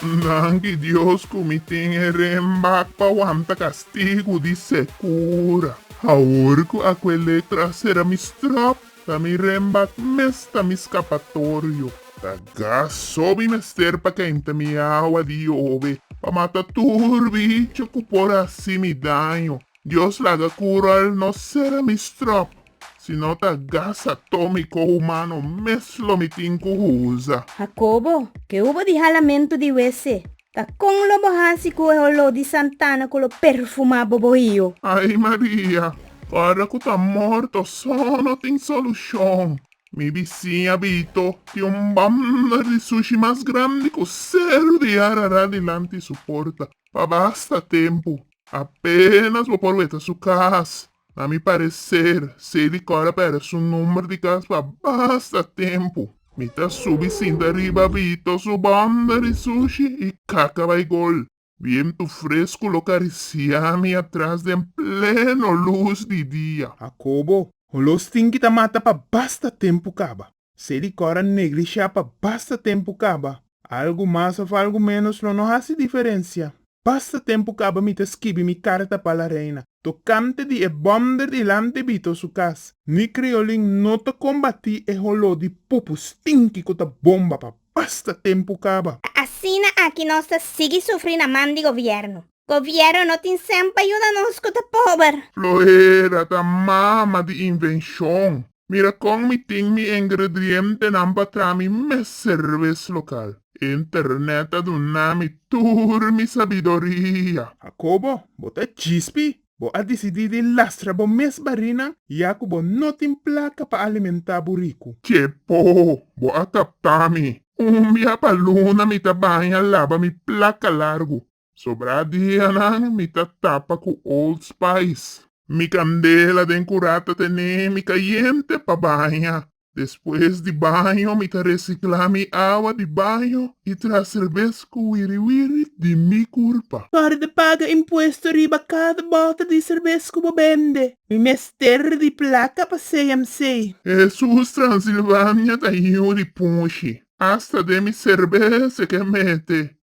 Danki Dios ku mi tin e renbak pa wanta kastigu di sekura. Awor ku Akuelek trasera mi stròp, ta mi renbak mes ta mi skapatorio. Ta gas so mi mester pa kenta mi awa di yobe pa mata tur bicho ku por hasi mi daño. Dios laga cu rol no sera mi strop, si no ta gasa to mi cohumano mes lo mi tin cu huza. Jacobo, ke hu bo di halamentu di wese, ta con lo bo haci cu e holó di santana cu lo perfumá bo bohio? Ai Maria, ora cu ta morto so no tin solucion. Mi bisiña Bito tin un banda di sushi mas grandi cu seru di Ararat dilanti su porta pa basta tempu. Apenas bo por weta su cas, na mi parecer, sei di cor apera su number di cas pa basta tempo. Mi ta subi sinta riba Vito su banda di sushi y caca bay gol. Viento fresco lo caricia mi atras den pleno luz di dia. Akobo, olor stinky ta mata pa basta tempo caba. Se di kòra neglishá pa basta tempu kaba. Algu mas òf algu ménos lo no hasi diferensia. Basta tempu kaba mi ta skibi mi karta pa La Reina, tokante di e bòmder dilanti Bito su kas. Mi kriolin no ta kombatí e holó di pupu stinki ku ta bomba pa basta tempu kaba. Ta asina aki nos ta sigui sufri na man di gobièrnu. Gobièrnu no tin sèn pa yuda nos ku ta pober. Floera ta mama di invenshon. Mira kon mi tin mi engredrientenan pa traha mi mes serves lokal. Internet a duna mi tur mi sabidoria. Jakobo, bo ta djispi? Bo a disidí di lastra bo mes barinan ya ku bo no tin plaka pa alimentá buriku? Chepo, bo a kaptá mi. Un bia pa luna mi ta baña laba mi plaka largu. Sobra dianan mi ta tapa cu Old Spice. Mi candela den cura ta tene mi cayente pa baña. Despues di baño mi ta recicla mi awa di baño y traha serbes cu wiri wiri di mi curpa. Para di paga impuesto riba cada bota di serbes cu bo bende, mi mester di placa pa CMC. Hesus Transilvania ta yiu di punshi. Hasta den mi serbes e ke mete.